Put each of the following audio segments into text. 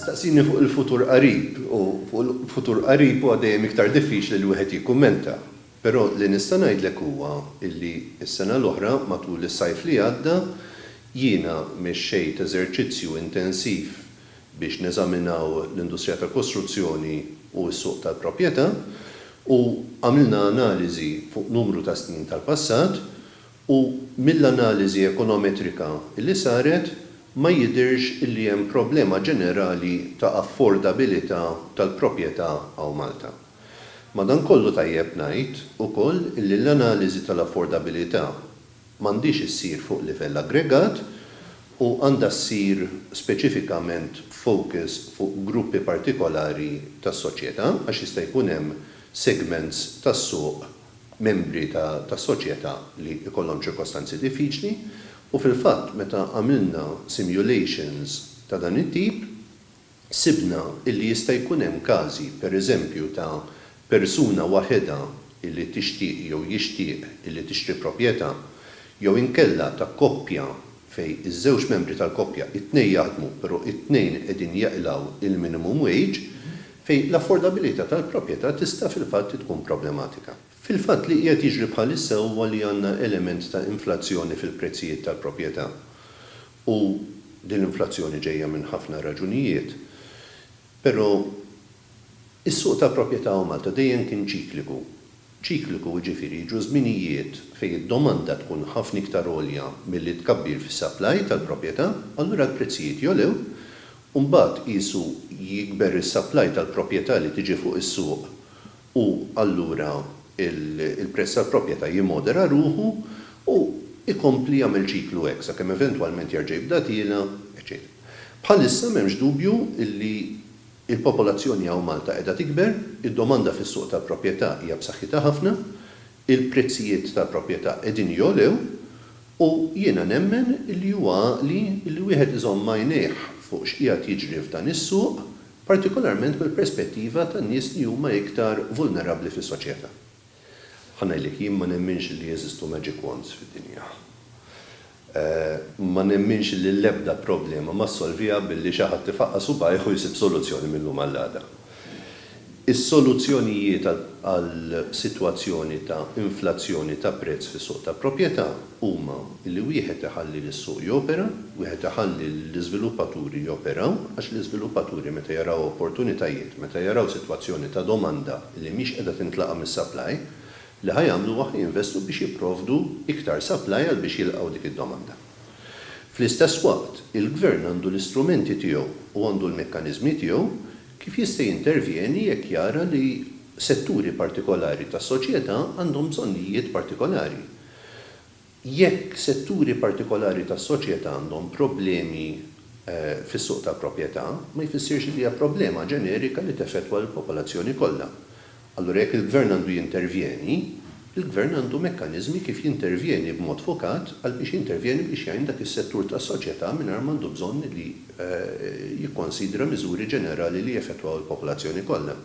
Tistaqsini fuq il-futur qarib u fuq il-futur qarib huwa dejjem iktar diffiċli li wieħed jikkummenta. Però li nista' ngħidlek huwa li s-sena l-oħra matul is-sajf li għadda jiena mexxejt eżerċizzju intensiv biex neżaminaw l-industrija tal-kostruzzjoni u s-suq tal-proprjetà u għamilna analiżi fuq numru ta' snin tal-passat u mill-analiżi ekonometrika li saret ma jidhirx li hemm problema ġenerali ta' affordabilità tal-proprjetà hawn Malta. Madankollu tajjeb ngħid ukoll li l-analiżi tal-affordabilità m'għandhiex issir fuq livell aggregat u għandha ssir speċifikament b'focus fuq gruppi partikolari tas-soċjetà għax jista' jkun hemm segments tas-suq membri ta' soċjetà li jkollhom ċirkostanzi diffiċli u fil-fatt meta għamilna simulations ta' dan it-tip sibna illi jista' jkun hemm każi pereżempju ta' persuna waħedha illi tixtieq jew jixtieq illi tixtri proprjetà jew inkella ta' koppja fejn iż-żewġ membri tal-koppja t-tnejn jaħdmu però t-tnejn qegħdin jeqlgħu il-minimum wage fejn l-affordabilità tal-proprjetà tista' fil-fatt tkun problematika. Fil-fatt li qiegħed jiġri bħalissa huwa li għandna element ta' inflazzjoni fil-prezzijiet tal-proprjetà u din l-inflazzjoni ġejja minn ħafna raġunijiet, però is-suq tal-proprjetà u Malta dejjem kien ċikliku. Ċikliku jiġifieri jiġu żminijiet fejn id-domanda tkun ħafna iktar għolja milli t-tkabbir fis-supply tal-proprjetà, allura l-prezzijiet jogħlew, u mbagħad qisu jikber is-supply tal-proprjetà li tiġi fuq is-suq u allura l-prezz tal-proprjetà jimmodera ruħu u jkompli jagħmel ċiklu hekk sakemm eventwalment jerġa' jibda tiela', eċċetera Bħalissa m'hemmx dubju li Il-popolazzjoni hawn Malta qiegħda tikber, id-domanda fis-suq tal-proprjetà hija b'saħħitha ħafna, il-prezzijiet tal-proprjetà qegħdin jogħlew u jiena nemmen li huwa għaqli li wieħed iżomm għajnejh fuq x'qiegħed jiġri f'dan is-suq, partikolarment mill-perspettiva tan-nies li huma iktar vulnerabbli fis-soċjetà. Ħa ngħidlek, jien ma nemminx li jeżistu magic wands fid-dinja. Ma nemminx li l-ebda problema ma ssolviha billi xi ħadd ifaqqas subgħajh u jsib soluzzjoni mil-lum għall-għada. Is-soluzzjonijiet għal sitwazzjoni ta' inflazzjoni ta' prezz fis-suq ta' proprjetà, huma li wieħed iħalli lis-suq jopera, wieħed iħalli lill-iżviluppaturi joperaw, għax l-iżviluppaturi meta jaraw opportunitajiet, meta jaraw sitwazzjoni ta' domanda li mhix qiegħda tintlaqa' mis-supply, li ħa jagħmlu huwa ħa jinvestu biex jipprovdu iktar supply għal biex jilqgħu dik id-domanda. Fl-istess waqt, il-Gvern għandu l-istrumenti tiegħu u għandu l-mekkaniżmi tiegħu kif jista' jintervjeni jekk jara li setturi partikolari tas-soċjetà għandhom bżonnijiet partikolari. Jekk setturi partikolari tas-soċjetà għandhom problemi fis-suq tal-proprjetà, ma jfissirx li hija problema ġenerika li teffettwa lill-popolazzjoni kollha. Allura jekk il-gvern għandu jintervjeni, il-gvern għandu mekkaniżmi kif jintervjeni b'mod fokat għal biex jintervjeni biex jgħin dak is-settur tas-soċjetà mingħajr m'għandu bżonn li jikkonsidra miżuri ġenerali li jeffettwaw il-popolazzjoni kollha.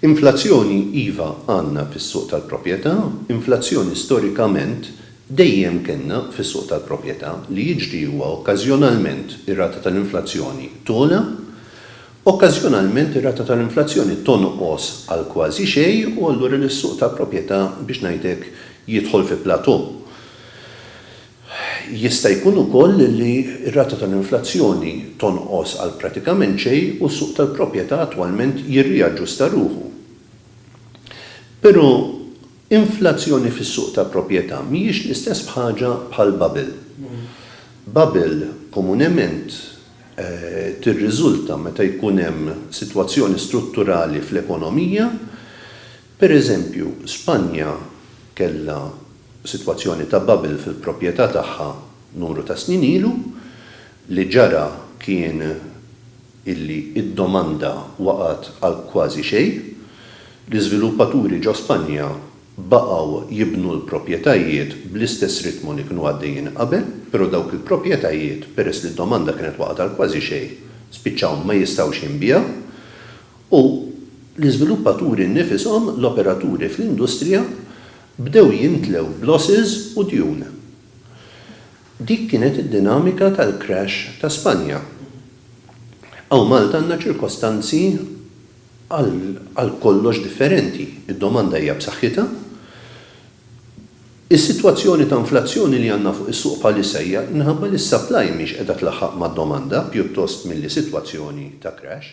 Inflazzjoni iva għandna fis-suq tal-proprjetà, inflazzjoni storikament dejjem kellna fis-suq tal-proprjetà, li jiġri huwa okkażjonalment ir-rata tal-inflazzjoni togħla, okkażjonalment ir-rata tal-inflazzjoni tonqos għal kważi xejn u allura lis-suq tal-proprjetà biex ngħidlek jidħol fi plateau. Jista' jkun ukoll li r-rata tal-inflazzjoni tonqos għal pratikament xejn u s-suq tal-proprjetà attwalment jirriaġġusta ruħu. Però inflazzjoni fis-suq ta' proprjetà mhijiex l-istess b'ħaġa bħal bubble. Bubble komunement tirriżulta meta jkun hemm sitwazzjoni strutturali fl-ekonomija Pereżempju, Spanja kellha sitwazzjoni ta' bubble fil-proprjetà tagħha numru ta' snin ilu. Li ġara kien illi d-domanda waqgħet għal kważi xejn. L-iżviluppaturi ġo Spanja baqgħu jibnu l-proprjetajiet bl-istess ritmu li kienu għaddejjin qabel, però dawk il-proprjetajiet, peress li d-domanda kienet waqgħet għal kważi xejn, spiċċaw ma jistgħux jinbiegħu. u l-iżviluppaturi nnifishom, l-operaturi fl-industrija, bdew jimtlew b'losses u djun. Dik kienet id-dinamika tal-crash ta' Spanja. Hawn Malta għandna ċirkostanzi għal kollox differenti. Id-domanda hija b'saħħitha. Is-sitwazzjoni ta' inflazzjoni li għandna fuq is-suq bħalissa hija minħabba li s-supply mhix qiegħda tlaħħaq mad-domanda pjuttost milli sitwazzjoni ta' crash.